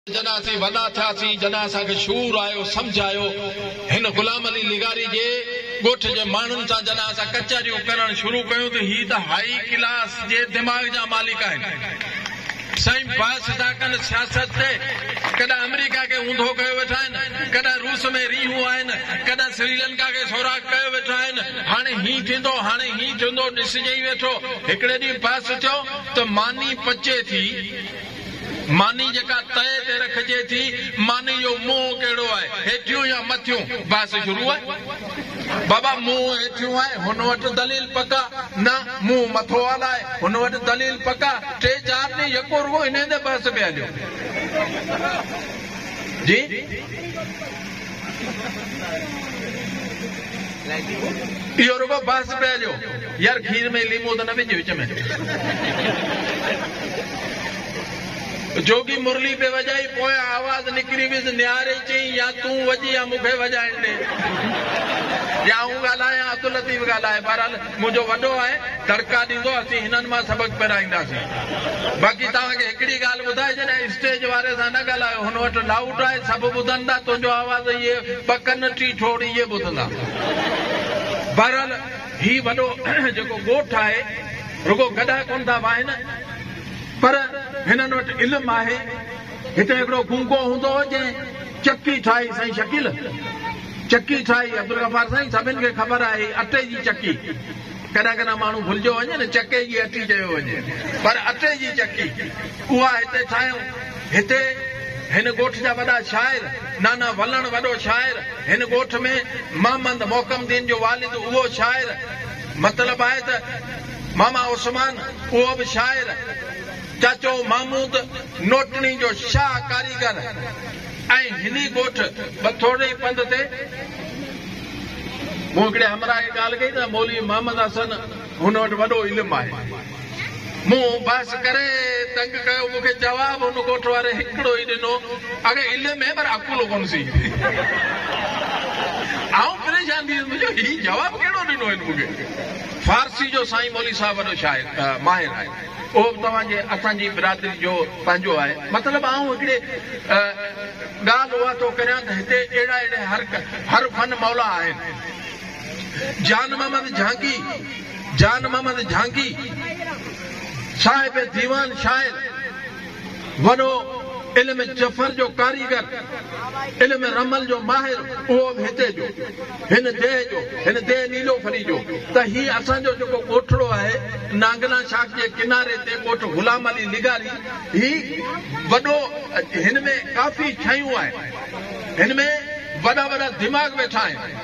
جڏهن اسين وڏا ٿياسين، جڏهن اسان کي شعور آيو، سمجهه آيو، هن غلام علي لغاري جي ڳوٺ جي ماڻهن سان جڏهن اسان ڪچهريون ڪرڻ شروع ڪيون ته هي ته هائي ڪلاس جي دماغ جا مالڪ آهن. سائين بحث ٿا ڪن سياست تي، ڪڏهن آمريڪا کي اونڌو ڪيو ويٺا آهن، ڪڏهن روس ۾ رينهون آهن، ڪڏهن سريلنڪا کي سوراخ ڪيو ويٺا آهن، هاڻي هيئن ٿيندو، هاڻي هيئن ٿيندو، ڏسجئي ويٺو. هڪڙي ڏينهن بحث ٿيو ته ماني پچي ٿي. ماني جيڪا تئي تي رکجي ٿي، ماني جو منهن ڪهڙو آهي، هيٺيون يا مٿيون؟ بحث شروع آهي. بابا منهن هيٺيون آهي، هن وٽ دليل پڪا، نه منهن مٿو آلا آهي، هن وٽ دليل پڪا، ٽي چار ڏينهن يڪو رڳو انهيء تي بحث پئي هليو. جي. اهو رڳو بحث پئي جو يار کير ۾ ليمو ته نه وجهه وچ ۾ جوڳي مرلي پئي وڄائي پويان آواز نڪري ويس نياري چئين يا تون وڄ يا مون کي وڄائڻ ڏي يا آئون ڳالهايان عبداللطيف ڳالهائي بهرحال منهنجو وڏو آهي، دڙڪا ڏيندو، اسين هنن مان سبق پرائينداسين. باقي توهان کي هڪڙي ڳالهه ٻڌائي ڇڏيان، اسٽيج واري سان نه ڳالهايو، هن وٽ لائوڊ آهي، سڀ ٻڌندا، تنهنجو آواز اهي ٻه ڪن، ٽي ٺوڙ اهي ٻڌندا. بهرحال هي وڏو جيڪو ڳوٺ آهي، رڳو گڏا ڪونه ٿا واهن، پر هنن وٽ علم آهي. هتي هڪڙو گونگو هوندو هو، جنهن. چڪي ٺاهي سائين شڪيل چڪي ٺاهي عبدالغفار سائين سڀن کي خبر آهي هي اٽي جي چڪي ڪڏهن ڪڏهن ماڻهو ڀلجيو وڃي نه چڪي جي اٽي چيو وڃي پر اٽي جي چڪي اها هتي ٺاهيون هتي هن ڳوٺ جا وڏا شاعر نانا ولڻ وڏو شاعر هن ڳوٺ ۾ محمد محڪم دين جو والد اهو شاعر مطلب آهي ته ماما عثمان اهو به شاعر. چاچو محمود نوٽڻي جو شاهه ڪاريگر ۽ هني ڳوٺ به ٿورڙي ئي پنڌ تي. مون هڪڙي همراهه کي ڳالهه ڪئي ته مولوي محمد حسن هن وٽ وڏو علم آهي. مون بحث ڪري تنگ ڪيو. مون کي جواب هن ڳوٺ واري هڪڙو ئي ڏنو، اگهي علم هي پر عقل ڪونه سي. آئون پريشان ٿي ويس مون چيو هي جواب ڪهڙو ڏنو هن مون کي. فارسي جو سائين مولوي صاحب وڏو شاعر ماهر آهي. اهو به توهان جي اسان جي برادري جو پنهنجو آهي. مطلب آئون هڪڙي ڳالهه اها ٿو ڪريان ته هتي اهڙا اهڙي هر هر فن مولا آهن. جان محمد جهانگي Jan Mohammad Jhangi صاحب ديوان شاعر، وڏو علم جفر جو ڪاريگر، علم رمل جو ماهر اهو به هتي جو، هن ديهه جو، هن ديهه نيلوفري جو ته هي اسان جو جيڪو ڳوٺڙو آهي نانگنا شاخ جي ڪناري تي ڳوٺ غلام علي لغاري هي وڏو هن ۾ ڪافي ڇايون آهن هن ۾ وڏا وڏا دماغ ويٺا آهن.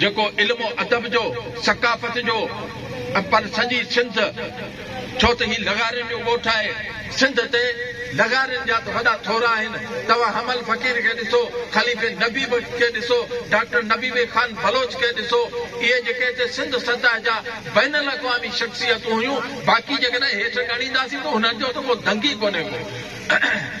جيڪو علم و ادب جو، ثقافت جو ۽ پر سڄي سنڌ ڇو ته هي لغارين جو ڳوٺ آهي، سنڌ تي لغارين جا ته وڏا ٿورا آهن، توهان حمل فقير کي ڏسو، خليفي نبي بخش کي ڏسو، ڊاڪٽر نبيوي خان بلوچ کي ڏسو، اهي جيڪي هتي سنڌ سطح جا بين الاقوامي شخصيتون هيون، باقي جيڪڏهن هيٺ ڳڻينداسين ته هنن جو ته ڪو دنگ ئي ڪونهي ڪو.